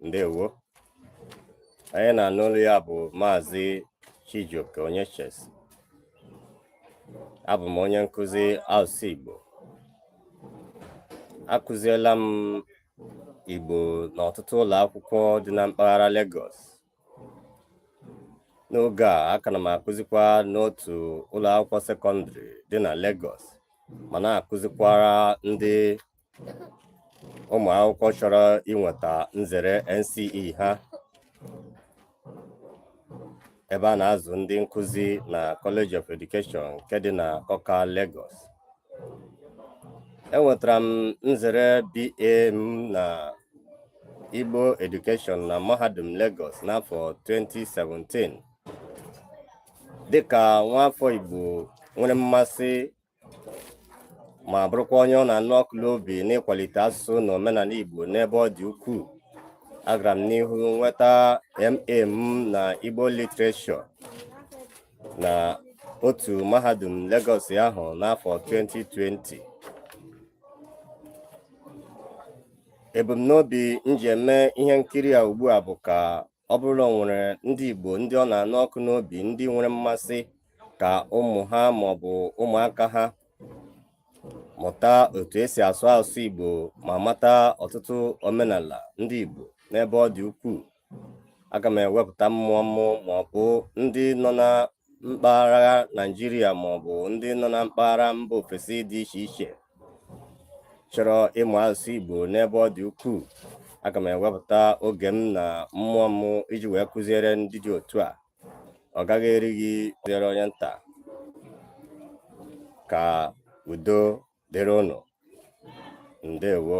ndewo onye ị na-anụ olu ya bụ maazị Chijioke Onyechesi abụ m onye nkụzi asụsụ Igbo akụziela m Igbo n'ọtụtụ ụlọ akwụkwọ dị na mpaghara Lagos n'oge a aka na m akụzikwa n'otu ụlọ akwụkwọ sekọndịrị dị na Lagos ma na-akụzikwara ndị ụmụ akwụkwọ chọrọ inweta nzere NCE ha ebe a na-azụ ndị nkụzi na College of Education nke dị na Akọka Lagos enwetara m nzere BA m na Igbo Education na Mahadum Lagos n'afọ 2017 dịka nwaafọ Igbo nwere mmasị ma bụrụkwa onye ọ na-anụ ọkụ n'obi n'ịkwalite asụsụ na omenala Igbo n'ebe ọ dị ukwuu agara m n'ihu nweta MA m na Igbo Literature na otu mahadum Lagos ahụ n'afọ 2020 ebumnobi m ji eme ihe nkiri a ugbu a bụ ka ọ bụrụ na o nwere ndị Igbo ndị ọ na-anụ ọkụ n'obi ndị nwere mmasị ka ụmụ ha maọbụ ụmụaka ha mụta otu esi asụ asụsụ Igbo ma mata ọtụtụ omenala ndị Igbo n'ebe ọ dị ukwuu aga m ewepụta mmụọ mụ maọbụ ndị nọ na mpaghara Naijiria ma ọ bụ ndị nọ na mpaghara mba ofesi dị iche iche chọrọ ịmụ asụsụ Igbo n'ebe ọ dị ukwuu aga m ewepụta oge m na mmụọ m iji wee kụziere ndị dị otu a ọ gaghị eri gị dịrị onye nta ka udo dịrị ụnụ ndewo